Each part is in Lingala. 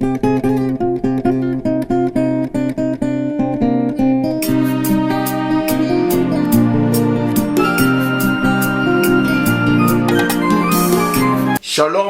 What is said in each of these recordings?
shalom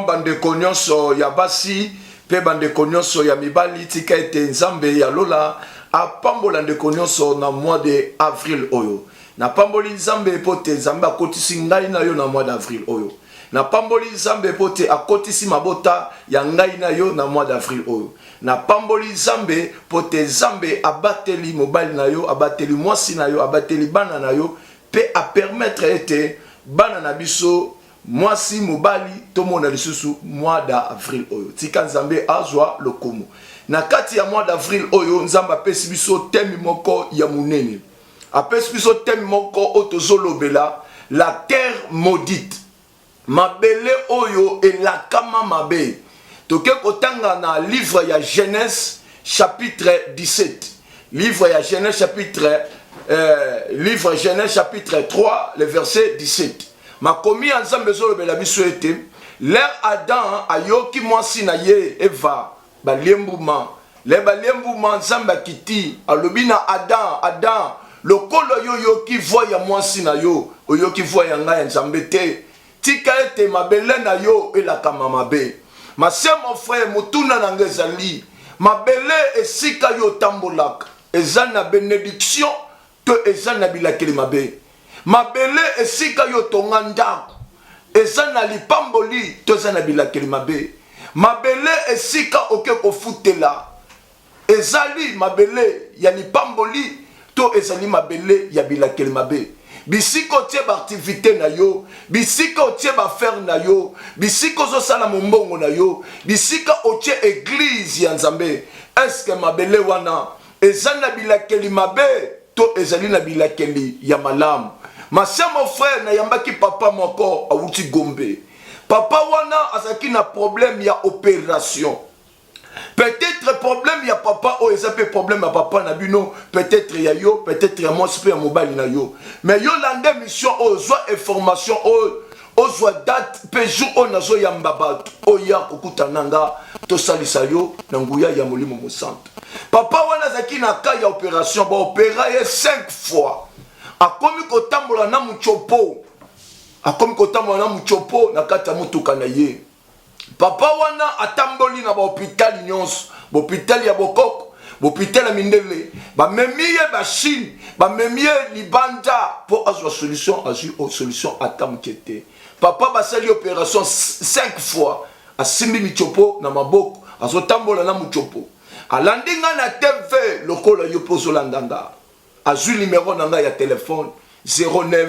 bandeko nyonso ya basi mpe bandeko nyonso ya mibali tika ete nzambe ya lola apambola ndeko nyonso na mois de avril oyo napamboli nzambe mpo te nzambe akotisi ngai na yo na mois d'avril oyo Napamboli Nzambe mpo te akotisi mabota ya ngai na yo na mois d'avril oyo. Napamboli Nzambe mpo te Nzambe abateli mobali na yo, abateli mwasi na yo, abateli bana na yo mpe a permettre ete bana na biso mwasi mobali tomona lisusu mois d'avril oyo. Tika Nzambe azwa lokumu. Na kati ya mois d'avril oyo Nzambe apesi biso teme moko ya monene. apesi biso teme moko oyo tozolobela la terre maudite mabele oyo elakama mabe toke kotanga na livre ya genèse chapitre 17 livre ya genèse chapitre euh, livre genèse chapitre 3 le verset 17 makomi ya nzambe ezolobela biso ete lere adam ayoki mwasi na ye eva Balie mbuma, le balie mbuma Nzambe akiti alobi na Adam, Adam lokola yo oyoki voix ya mwasi na yo, oyoki voix ya ngai ya Nzambe te, tika ete mabele na yo elakama mabe. Ma sœur, mon frère, motuna na ngai ezali mabele esika yo otambolaka eza na benediction to ezali na bilakeli mabe. Mabele esika yo otonga ndako ezali na lipamboli to ezali na bilakeli mabe. Mabele esika oke kofutela ezali mabele ya lipamboli to ezali mabele ya bilakeli mabe. bisika otie baaktivite na yo bisika otie baafere na yo bisika ozosala mombongo na yo bisika otie eglize ya nzambe eske mabele wana Eza na bilakeli mabe to ezali na bilakeli ya malamu? Ma sœur, mon frère, nayambaki papa moko awuti Gombe. Papa wana azalaki na problème ya operation. Peut-être problème ya papa oyo eza pe problème ya papa na bino, peut-être ya yo, peut-être ya mwasi pe ya mobali na yo. Mais yo landa emission oyo, zwa information oyo ozwa date mpe jour oyo nazoyamba bato oya kokutana nga tosalisa yo na nguya ya molimo mosantu papa wana azalaki na ka ya operation baopera ye 5 fois akomi kotambola na mutiopo akomi kotambola na mutiopo na kati ya motuka na ye Papa wana atamboli na bahopitali nyonso, bopitali ya bokoko, bopitali ya mindele, bamemi ye ba Chine, bamemi ye libanda mpo azwa solution, azwi o solution ata moke te. Papa basali operation 5 fois, asimbi michopo na maboko, azotambola na muchopo. Alandi nga na TV lokola yo mpo ozolanda nga. Azwi numero na nga ya telephone 09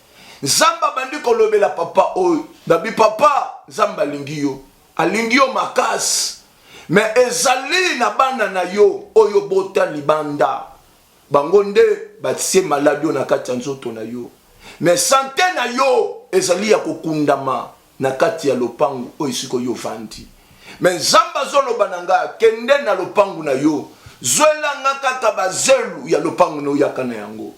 nzambe abandi kolobela papa oyo babi papa nzambe alingi yo alingi yo makasi me ezali na bana na yo oyo bota libanda bango nde batie maladi oyo na kati ya nzoto na yo me sante na yo ezali ya kokundama na kati ya lopango oyo esika oyo ovandi me nzambe azoloba na ngai akende na lopango na yo zwelanga kaka bazelu ya lopango na oyaka na yango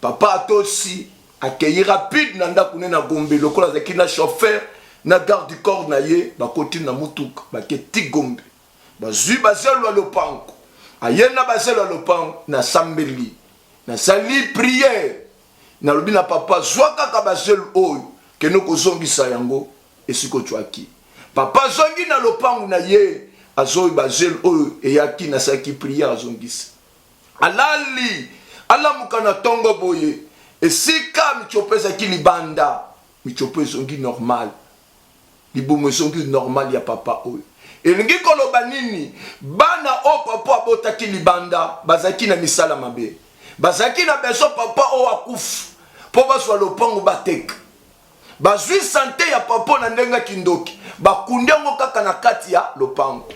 Papa Atosi akeyi rapide na ndako ne na Gombe lokola azalaki na chauffeur na garde du corps na ye bakoti na mutuka bake ti Gombe bazui bazelu ya lopango aye na bazelu ya lopango na sambeli na sali priere nalobi na papa zua kaka bazelu oyo kende kozongisa yango esika ocuaki papa azongi na lopango na ye azoi bazelu oyo eyaki nasalaki priere azongisa Alali, alamuka na tongo boye. Esika mitshopo ezalaki libanda, mitshopo ezongi normal. Libumu ezongi normal ya papa oyo. Elingi koloba nini? Bana oyo papa abotaki libanda bazalaki na misala mabe. Bazalaki na besoin papa oyo akufa mpo bazwa lopango bateka. Bazwi sante ya papa oyo na ndenge ya kindoki, bakundi yango kaka na kati ya lopango.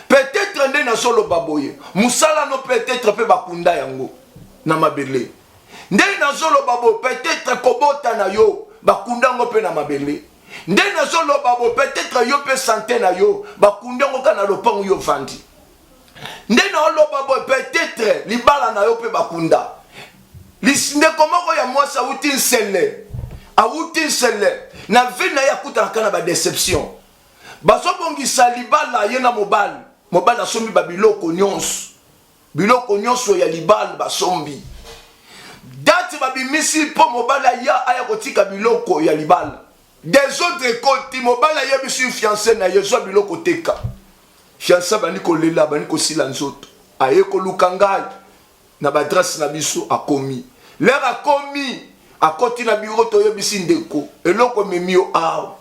Peut-etre nde nazoloba boye, mosala no peut-etre mpe bakunda yango na mabele. Nde nazoloba boye, peut-etre kobota na yo bakunda yango mpe na mabele. Nde nazoloba boye, peut-etre yo mpe sante na yo bakunda yango kaka na lopango yo ofandi. nde naoloba boye peut-être libala na yo mpe bakunda ndeko moko ya mwasi awuti nsele awuti nsele na vie na ye akutanaka na badeception bazobongisa libala ye na mobali mobali asombi babiloko nyonso biloko nyonso ya libala basombi dati babimisi mpo mobali aya aya kotika biloko ya libala desordre ekoti mobali ayebisi fianse na ye zwa biloko teka Fianse abandi kolela, abandi kosila nzoto, aye koluka ngai na badrase na biso. Akomi lere, akomi akoti na biro, toyebisi ndeko, eloko ememi yo awa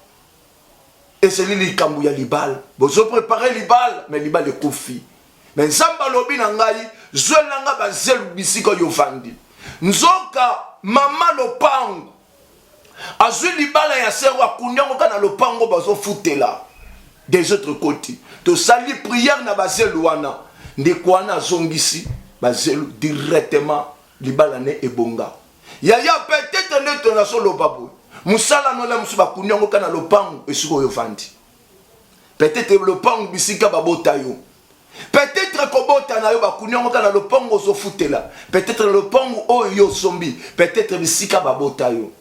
ezali likambo ya libala, bozo prepare libala, me libala ekufi. Me Nzambe alobi na ngai, zwela nga bazelu bisika yo vandi. Nzoka mama lopango azwi libala ya sero akundi yango kaka na lopango bazofutela des autres côté tosali prière na bazelu wana ndeko wana azongisi bazelu directement libala ne ebonga yaya peut-être nde tozoloba boye mosala nola mosusu bakundi yango kaka na lopango esika oyo ofandi peut-être lopango bisika babota yo peut-être kobota na yo bakuni yango kaka na lopango ozofutela peut-être na lopango oyo yo osombi peut-être bisika babota yo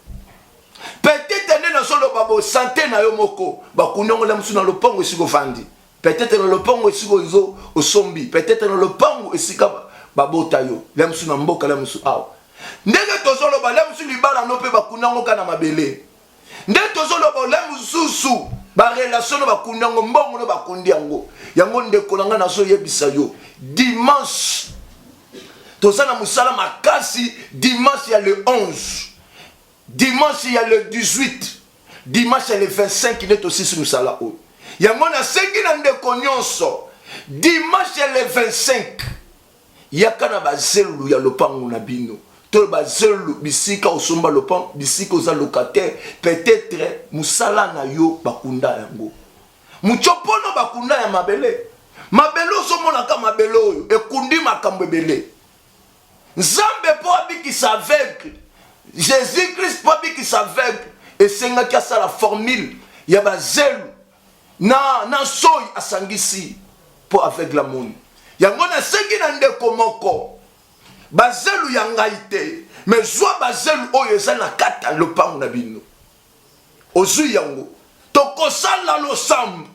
peut-être nde nazoloba bo sante na yo moko bakuni yango na mosusu na lopango esika ofandi peut-être na lopango esika ozo osombi peut-être na lopango esika babota yo la mosusu na mboka la mosusu awa ndenge tozoloba la mosusu libala no mpe bakuni yango kaka na mabele nde tozoloba ole mosusu barelation no bakundi yango mbongo no bakundi yango yango ndeko na ngai nazoyebisa yo dimanche toza na mosala makasi dimanche ya le 11 dimanche ya le 18 dimanche ya le 25 nde tosisi mosala oyo yango nasengi na ndeko nyonso dimanche ya le 25 Yaka na bazelulu ya lopango na bino to bazelulu bisika osomba lopango, bisika oza locataire, peut-etre musala na yo bakunda yango. Mutshopono bakunda ya mabele. Mabele ozomona ka mabele oyo ekundi makambo ebele. Nzambe mpo abikisa aveugle, Jesus Christ mpo abikisa aveugle, esengaki asala formule ya bazelu na na soyi asangisi mpo aveugle amoni yango. Nasengi na ndeko moko bazelu ya ngai te, me zwa bazelu oyo eza na kati ya lopango na bino. Ozwi yango, tokosala losambo.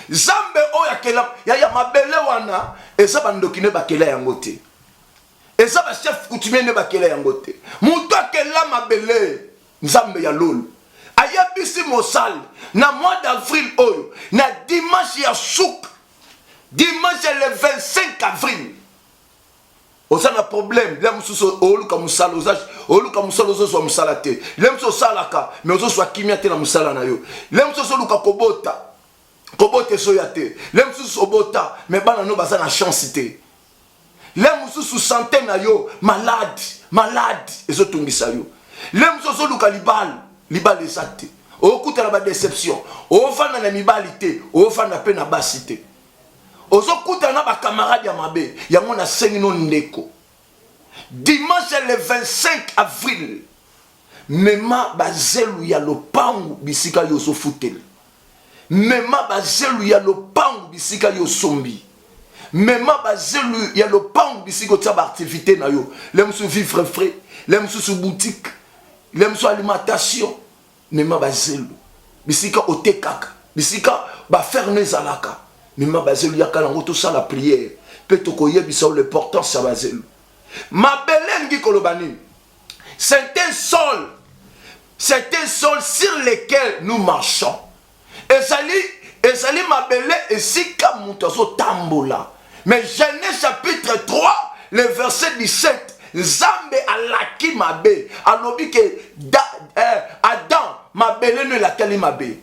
Zambe oyo akela ya, ya mabele wana eza bandoki ne bakela yango te, eza bachef coutumier ne bakela yango te. Moto akela mabele Nzambe ya lolu ayebisi mosali na mois d'avril oyo na dimanche ya suka dimanche ya le 25 avril oza na problème le mosusu oluka mosala oza oluka mosala ozozwa mosala te le mosusu osalaka mais ozozwa kimia te na mosala na yo le mosusu ozoluka kobota kobota ezoya te le mosusu obota mais bana no baza na chance te le mosusu sante na yo malade malade ezotungisa yo le mosusu ozoluka libala libala eza te okutana badeception ofanda na mibali te ofanda mpe na basi te ozokutana na bakamarade ya mabe yango nasengi no ndeko dimanche le 25 avril Mema bazelu ya lopangu bisika yo ozofutela. Mema bazelu ya lopangu bisika yo osombi. Mema bazelu ya lopangu bisika otya baaktivite na yo. Le mosusu vivre frais, le mosusu boutique, le mosusu alimentation. Mema bazelu bisika otekaka, bisika bafere no ezalaka. Mema bazelu yaka nango tosala priere mpe tokoyebisa yo l'importance ya bazelu. Mabele elingi koloba nini? C'est un sol. C'est un sol sur lequel nous marchons. Ezali, ezali mabele esika moto azotambola. Mais Genèse chapitre 3, le verset 17, Nzambe alaki mabe, alobi ke da, eh, Adam, mabele no elakeli mabe.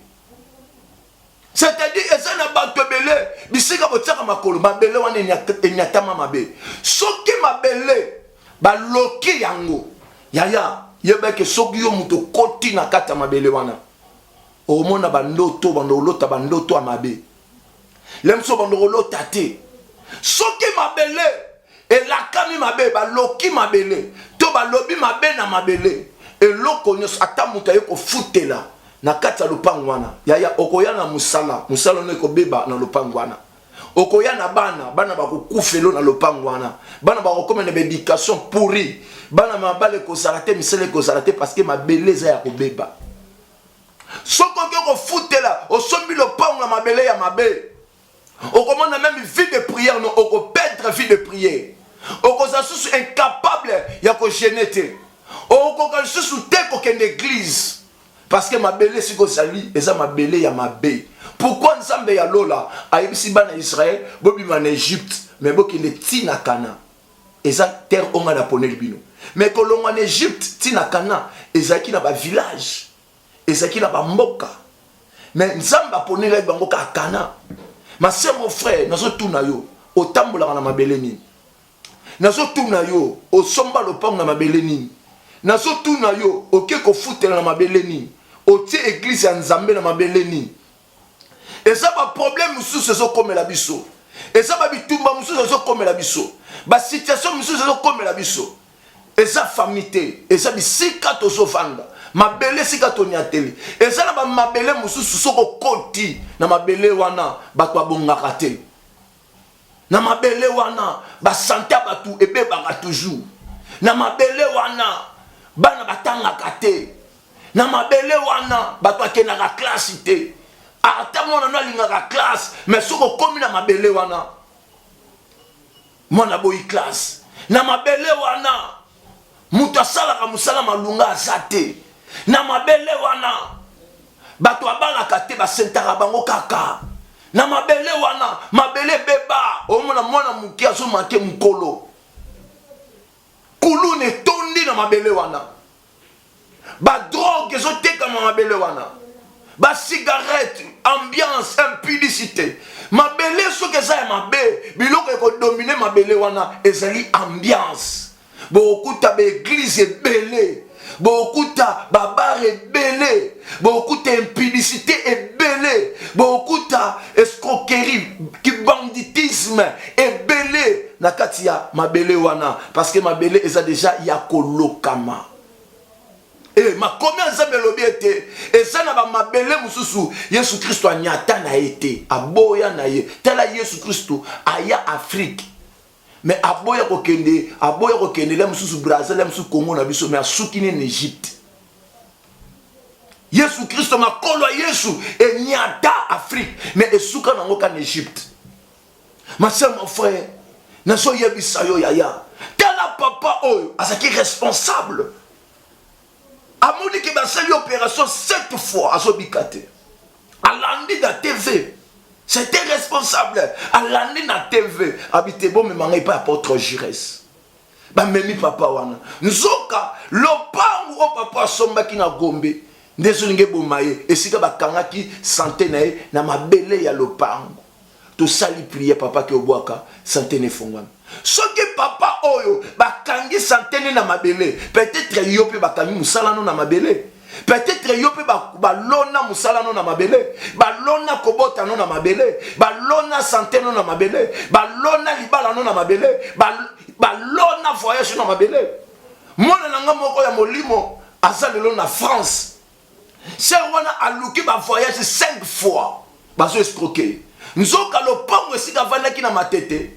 c'est-à-dire eza na bato ebele bisika botiaka makolo mabele wana enyatama mabe soki mabele baloki yango yaya yeba eke soki yo moto okoti na kati ya mabele wana omona bandoto bando olota bandoto ya mabe lemso bando olota te soki mabele elakami mabe baloki mabele to balobi mabe na mabele eloko nyonso ata moto aye kofutela na kati ya lopango wana yaya okoya na mosala mosala ono ekobeba na lopango wana okoya na bana bana bakokufelo na lopango wana bana bakokoma na baeducation pourri bana mabala ekozala te misala ekozala te parce que mabele eza ya kobeba soki oke kofutela osombi lopango na mabele ya mabe okomona meme vie de prière no okoperdre vie de prière okozala susu incapable ya kogene te okokoka lisusu te kokende eglize parce que mabele esika ozali eza mabele ya mabe pourkui nzambe ya lola ayebisi bana ya israele bobima na egypte me bokende ti na kana eza terre oyo ngai naponeli bino me kolongwa na egypte ti na kana ezalaki na bavillage Ezalaki na bamboka me Nzambe aponelaki bango kaka Kana. Ma sœur, mon frère, nazotuna yo, otambolaka na mabele nini? Nazotuna yo, osomba lopango na mabele nini? Nazotuna yo, oke kofutela na mabele nini? Otie eglise ya Nzambe na mabele nini? eza ba problème mosusu ezokomela biso eza ba bitumba mosusu ezokomela biso ba situation mosusu ezokomela biso eza famille te eza bisika tozovanda mabele esika toniateli eza na bamabele mosusu soki okoti na mabele wana bato babongaka te na mabele wana basante ya bato ebebaka toujours na mabele wana bana batangaka te na mabele wana bato akendaka klasi te ata mwana no alingaka klase me soki okomi na mabele wana mwana boyi klase na mabele wana moto asalaka mosala malonga aza te na mabele wana bato abalaka te basentaka bango kaka na mabele wana mabele ebeba omona mwana moke azomake mokolo kuluna etondi na mabele wana ba drogue ezo tekama mabele wana ba cigarette ambiance impudicité mabele soki eza ya mabe biloko ekodomine mabele wana ezali ambiance bokokuta baeglize ebele bokokuta babare ebele bokokuta impudicité ebele bokokuta escroquerie kibanditisme ebele na kati ya mabele wana parce que mabele eza deja ya kolokama E, makomi ya Nzambe elobi ete eza na bamabele mosusu Yesu Kristo anyata na ye te, aboya na ye. Tala Yesu Kristo aya Afrike me aboya kokende, aboya kokende le mosusu Brazil, le mosusu Congo na biso, me asuki ne na Egypte. Yesu Kristo, makolo ya Yesu enyata Afrike me esuka nango ka na Egypte. Ma sœur, mon frère, nazo yebisa yo yaya. Tala papa oyo azaki responsable. Amoni ke basali opération 7 fois azobika te. Alandi na TV. C'était responsable. Alandi na TV. Abite bo me mangai pas apôtre Giresse. Ba memi papa wana. Nzoka lopangu o papa asombaki na Gombe. Ndezo linge bomaye esika bakangaki santé na ye na mabele ya lopangu. tosali prière papa ke obwaka sante na efongwami soki papa oyo bakangi sante ne na mabele peut-être yo mpe bakangi mosala no na mabele peut-être yo mpe balona mosala no na mabele balona kobota no na mabele balona sante no na mabele balona libala no na mabele balona voyage no na mabele mwana na ngai moko ya molimo aza lelo na france Sœur wana aluki ba voyage 5 fois bazo escroquer ye. Nzoka lopango esika avandaki na Matete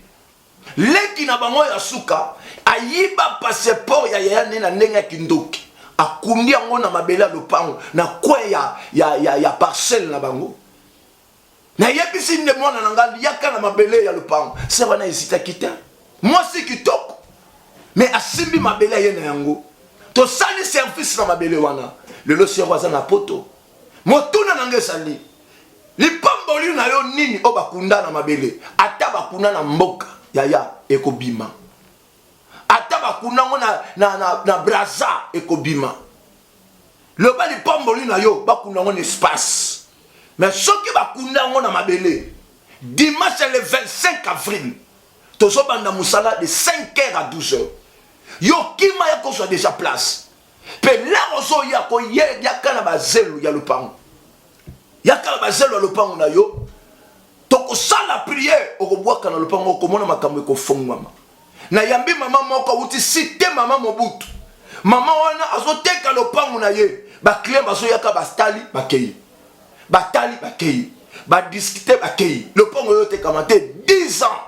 leki na bango ya suka ayiba passeport ya yaya ne na ndenge ya kindoki akundi yango na mabele ya lopango na coin ya, ya, ya, ya parcelle na bango nayebisi nde mwana na ngai liaka na mabele ya lopango se wana ezitaki te mwasi kitoko me asimbi mabele aye na yango tosali service na mabele wana lelo sero aza na poto motuna na ngai ezali lipamboli na yo nini oyo bakunda na mabele ata bakunda na mboka yaya ekobima ata bakunda yango na, na, na, na braza ekobima loba lipamboli na yo bakunda yango na espace me soki bakunda yango na mabele dimanche le 25 avril tozobanda mosala de 5 heures à 12 heures yo kima ya kozwa deja place mpe lere ozoya koye yaka na bazelu ya lopango yaka na bazelu ya lopango na yo tokosala priere okobwaka na lopango okomona makambo ekofongwama Na yambi maman moko awuti site maman Mobutu. Maman wana azo teka lopangu na ye. Ba clients bazo yaka ba stali ba keyi. Ba tali ba keyi. Ba discuter ba keyi. Lopangu ezo tekama te 10 ans.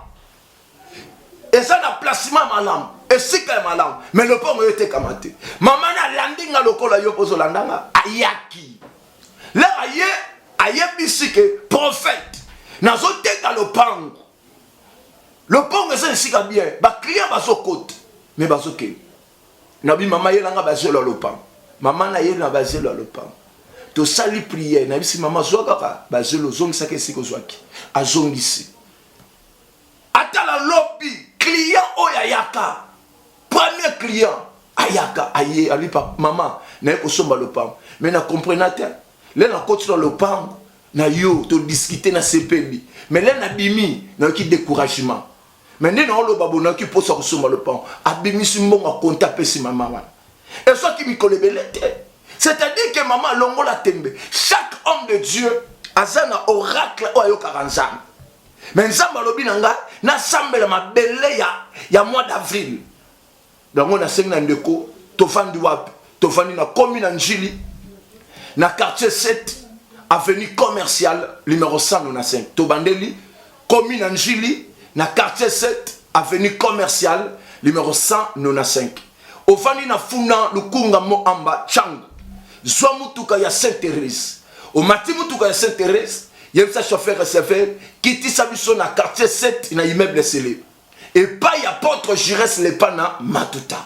Eza na placement malamu. Esika ya malamu. Mais lopangu ezo tekama te. Maman na landi nga lokola yo pozo landa nga. Ayaki. Lera ye ayebisi ke prophète nazo teka lopangu. lopango eza esika bien baclient bazokota me bazokende nabi mama ye nanga bazelo ya lopango mama na ye na bazelo ya lopango tosali priere nayebisi mama zwa kaka bazelo ozongisaki esika ozwaki azongisi ata na lobi client oyo ayaka premier client ayaka aye alipa mama naye kosomba lopango me na comprena te le nakoti na lopango na yo to discuter na sepebi mais là na bimi na yoki découragement mais nde na oloba bo na yoki posa kosomba lopango abimisi mbongo akonta apesi mama wana ezwaki mikolo ebele te c'est-à-dire que mama alongola tembe chaque homme de dieu aza na oracle oyo ayokaka nzambe mais nzambe alobi na ngai nasambela mabele ya, ya mois d'avril Yango nasengi na ndeko tofandi wapi? Tofandi na komi na Njili na quartier 7 avenue commerciale numero 195. Tobandeli komi na Njili na quartier 7 avenue commerciale numero 195. Ofandi na Funa Lukunga Moamba Changu. Zwa mutuka ya Saint Therese. Omati mutuka ya Saint Therese, yebisa chauffeur SFR kitisa biso na quartier 7 na immeuble Sele. epai apôtre Giresse Lepana Matuta.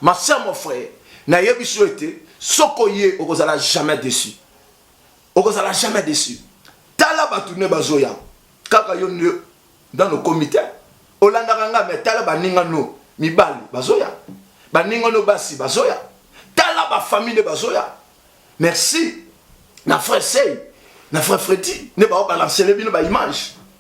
Ma sœur, mon frère, nayebi biso ete soko ye okozala jamais déçu. Okozala jamais déçu. Tala bato ne bazoya kaka yo nde dans okomi te. Olandaka nga mais tala baninga no mibali bazoya. Baninga no basi bazoya. Tala ba famille ne bazoya. Merci. Na frère Sey, na frère Freddy ne ba balancele bino ba image.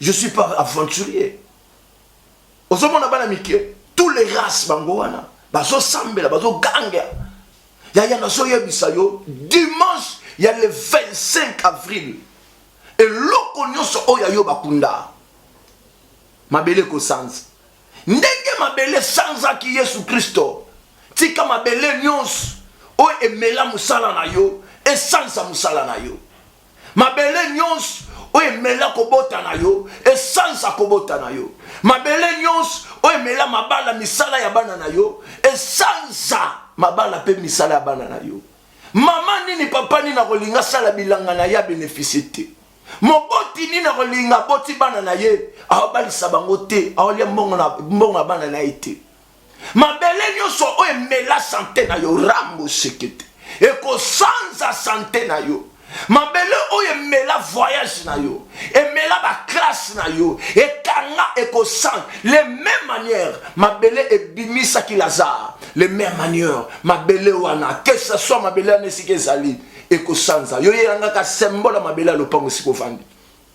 je suis pas aventurier ozomona bana mike tous les races bango wana bazosambela bazoganga yaya nazoyebisa yo dimanche ya le 25 avril eloko nyonso oyo yayo bakunda mabele ekosanza ndenge mabele esanzaki yesu kristo tika mabele nyonso oyo emela mosala na yo esanza mosala na yo mabele nyonso oyo emela kobota na yo esalisa kobota na yo mabele nyonso oyo emela mabala misala ya bana na yo esalisa mabala mpe misala ya bana na yo mama nini papa nini akolinga asala bilanga na ye abenefisi te moboti nini akolinga aboti bana na ye aobalisa bango te aolya mbongo ya bana na ye te mabele nyonso oyo emela sante na yo rambo sekete ekosanza sante na yo mabele oyo emela voyage na yo emela baklasse na yo ekanga ekosanga le même manière mabele ebimisaki lazare le même manière mabele wana que ce soit mabele wana esika ezali ekosanza yo yeyangaka symbole ya mabele ya lopango esika ofandi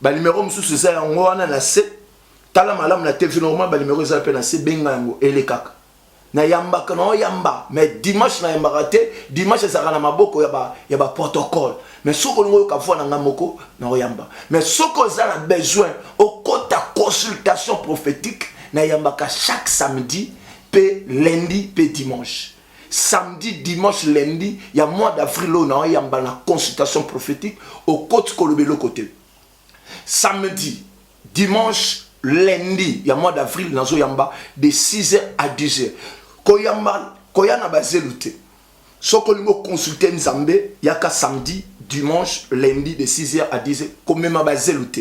Ba numero mususu eza yango wana na se. Tala malamu na TV normal ba numero eza pe na se benga yango elekaka. Na yambaka na oyamba mais dimanche na yambaka te. Dimanche ezalaka na maboko ya ba ya ba protocole. Mais soko olingo yoka voix na nga moko na oyamba. Mais soko oza na besoin okota consultation prophetique na yambaka chaque samedi pe lundi pe dimanche. samedi dimanche lundi ya mois d'avril oyo nawa yamba na consultation prophétique okoti koloba eloko te samedi dimanche lundi ya mois d'avril nazoyamba de 6h à 10h koyamba koya na bazelu te soki olingi oconsulte nzambe yaka samedi dimanche lundi de 6h à 10h komema bazelu te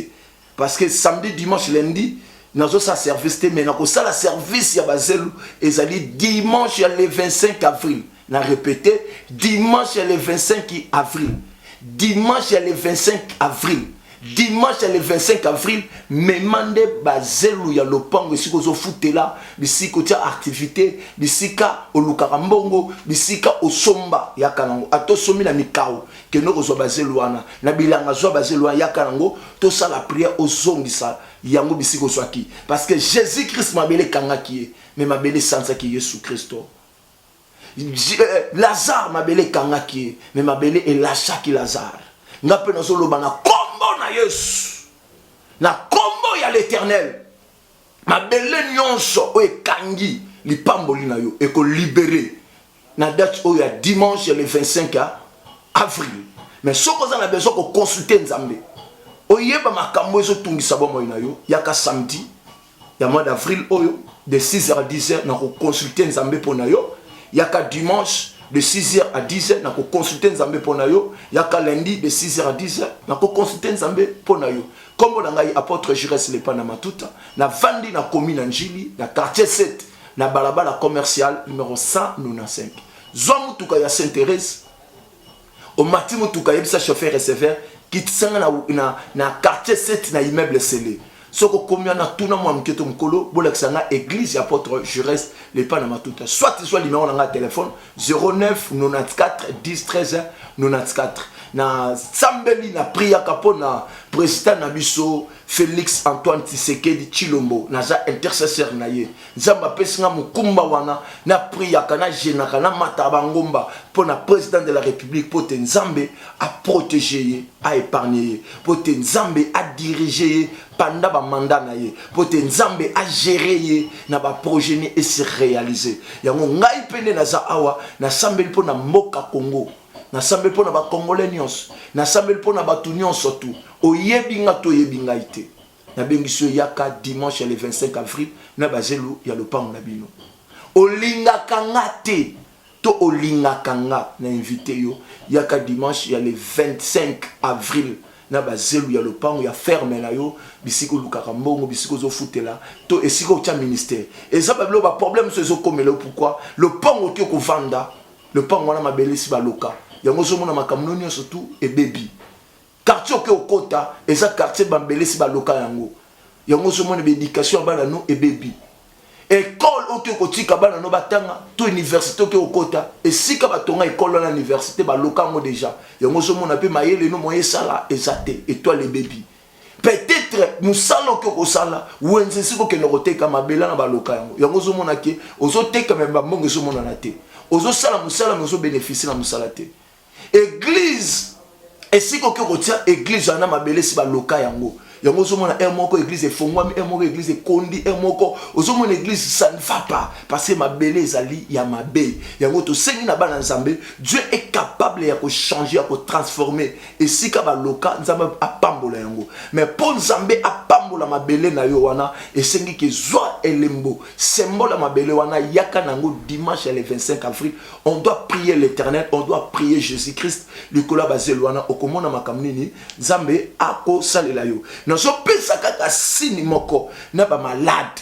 parce que samedi dimanche lundi nazosala service te mais nakosala service ya bazelu ezali dimanche ya le 25 avril na répète dimanche ya le 25 avril dimanche ya le 25 avril dimanche ya le 25 avril mema nde bazelu ya lopango esika ozofutela bisika otya activité bisika olukaka mbongo bisika osomba yaka nango ata osomi na mikao kende kozwa bazelu wana na bilanga zwa bazelu wana yaka yango tosala prière ozongisa yango bisika ozwaki parce que jésus christ mabele ekangaki ye me mabele esansaki yesu kristo euh, lazare mabele ekangaki ye me mabele elashaki lazare nga mpe nazoloba na kombo na yesu na kombo ya l'éternel mabele nyonso oyo ekangi lipamboli na yo ekolibere na date oyo ya dimanche le 25 ya avril mais soki oza na besoin koconsulte nzambe oyeba makambo ezotungisa bomoi na yo yaka samedi ya mois d'avril oyo de 6h à 10h na koconsulte nzambe mpo na yo yaka dimanche de 6h à 10h na koconsulte nzambe mpo na yo yaka lundi de 6h à 10h na koconsulte nzambe mpo na yo nkombo na ngai apôtre jures lepa na matuta navandi na komi na njili na quartier 7 na balabala commercial numero 195 zwa motuka ya saint therese omati motuka yebisa chauffeur receveur kitisanga na, na, na quartier 7 na immeuble sele soki okomi wana tuna mwa moke to mokolo bolakisa nga église ya apôtre jureste lepa na matuta soit ezwa limero na nga ya telefone 09 94 10 13 94 nasambeli na priyaka mpo na president na biso Felix Antoine Tshisekedi Chilombo naza intercesseur na ye Nzambe apesi nga mokumba wana na priaka na jenaka na mata bangomba mpo na president de la république mpo te Nzambe a protéger ye a épargner ye mpo te Nzambe a diriger ye panda ba mandat na ye mpo te Nzambe a gérer ye na ba projet ni esi réaliser yango ngai mpe nde naza awa nasambeli mpo na mboka Congo nasambeli mpo na bacongolais nyonso nasambeli mpo na bato nyonso tu oyebi nga to oyebi ngai te nabengisi yo yaka dimanche ya le 25 avril na bazelu ya lopango na bino olingaka nga te to olingaka nga na invite yo yaka dimanche ya le 25 avril na bazelu ya lopango ya ferme na yo bisika olukaka mbongo bisika ozofutela to esika otya ministère eza babilo baproblème mosusu ezokomela yo pourkui lopango oki okovanda lopango wana mabele esi baloka yango ozomona makambo no nyonso tu ebebi quartier oke okota eza quartier bambele esi baloka yango yango ozomona baéducation ya bana no ebebi ekole oke kotika bana no batanga to université oke okota esika batonga ekole wana université baloka yango deja yango ozomona mpe mayele no moye esala eza te etoile ebebi peut-être mosala oke okosala wenze esika okende koteka mabela na baloka yango yango ozomona ke ozoteka me bambongo ezomonana te ozosala mosala me ozobeneficie na mosala te eglize esika oke kotia eglize wana mabele esi baloka yango yango ozomona heure moko eglize efongwami heure moko eglize ekondi heure moko ozomona eglize ça ne va pas parce que mabele ezali ya mabe yango tosengi na bana nzambe dieu est capable ya kochanger ya kotransforme esika baloka nzambe apambola yango me mpo nzambe apambola mabele na yo wana esengi ke zwa elembo sembola mabele wana yaka na yango dimanche ya le 25 avril on doit prier l'éternel on doit prier jésus christ likolo ya bazelu wana okomona makambo nini nzambe akosalela yo nazopesa kaka sini moko na bamalade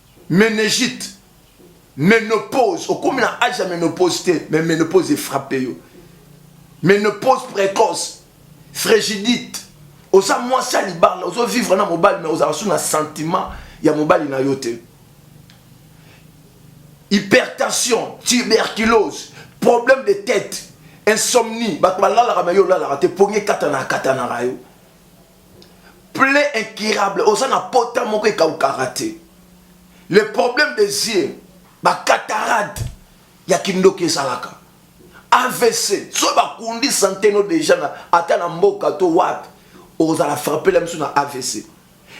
Menegite, menopause, okomi na age ya menopause te, mais menopause efrape yo. Menopause précoce, frigidite, oza mwasi ya libala, ozo vivre na mobali mais ozala su na sentiment ya mobali na yo te. Hypertension, tuberculose, problème de tête, insomnie, bato balalaka mais yo olalaka te, pongi ekatanaka katanaka yo. Plaie incurable, oza na pota moko ekaukaka te. Le problème des yeux, ba cataracte ya kindoki ezalaka. AVC, so bakundi sante no deja na ata na mboka to wapi, ozala frappela biso na AVC.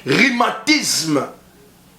Rhumatisme,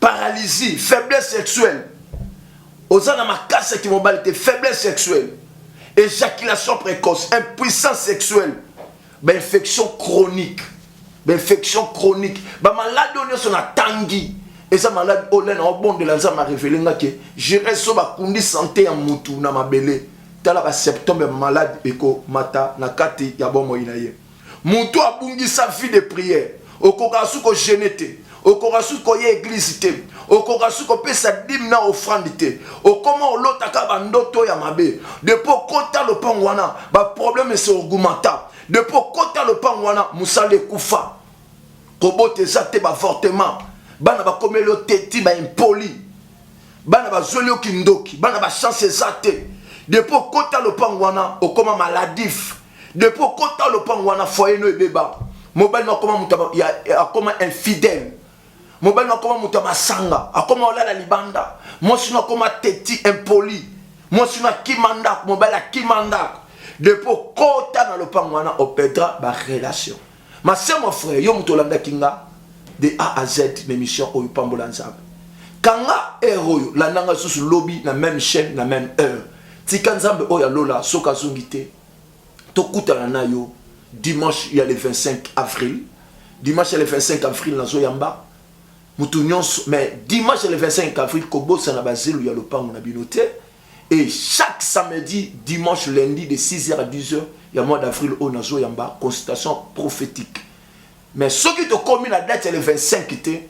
paralysie faiblesse sexuelle oza na makasi ya kimobali te faiblesse sexuelle éjaculation précoce impuissance sexuelle bainfection chronique bainfection chronique bamaladi oyo nyonso natangi eza maladi oyo lena obondela nzambe arevele nga ke gérese so bakundi sante ya mutu na mabele tala basymptome ya maladi ekomata na kati ya bomoi na ye Mutu abungisa vie de prière okoka su ko jeûner te, okoka su koya eglise te, okoka su kopesa dime na offrande te, okoma olota kaka ba ndoto ya mabe. Depuis okota lopango wana ba problème se augmenta, depuis okota lopango wana musala ekufa, kobota eza te, b'avortement, bana bakomeli yo te ti ba impoli, bana bazweli yo kindoki, bana ba chance eza te, depuis okota lopango wana okoma maladif. depuis okota lopango wana foyer no ebeba mobali no akoma moto akoma infidèle mobali no akoma moto ya masanga akoma olala libanda mwasi no akoma teti impoli mwasi no akima ndako mobali akima ndako depuis okota na lopango wana opedra barelation Ma sœur, mon frère, yo moto olandaki nga de A à Z na émission oyo pambola Nzambe. Kanga heure oyo landa nga susu lobi na même chaîne na même heure. Tika Nzambe oyo alola soki azongi te. Tokutana na yo dimanche ya le 25 avril. Dimanche ya le 25 avril nazo yamba moto nyonso mais dimanche ya le 25 avril kobosana bazelu ya lopango na bino te. Et chaque samedi, dimanche, lundi de 6h à 10h, il y a mois d'avril au Nazo Yamba, consultation prophétique. Mais ceux qui te commis la date, c'est le 25 était,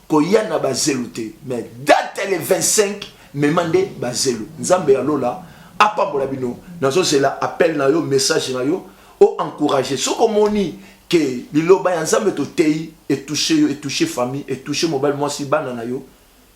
koyana bazelute. Mais date, c'est le 25, mais mandé bazelu. Nzambe ya lola, apambola bino. Nazo zela appel na yo, message na yo, o encourager. Ce que moni, que liloba ya Nzambe to tei, et toucher yo, et toucher famille, et toucher mobile, moi si bana na yo,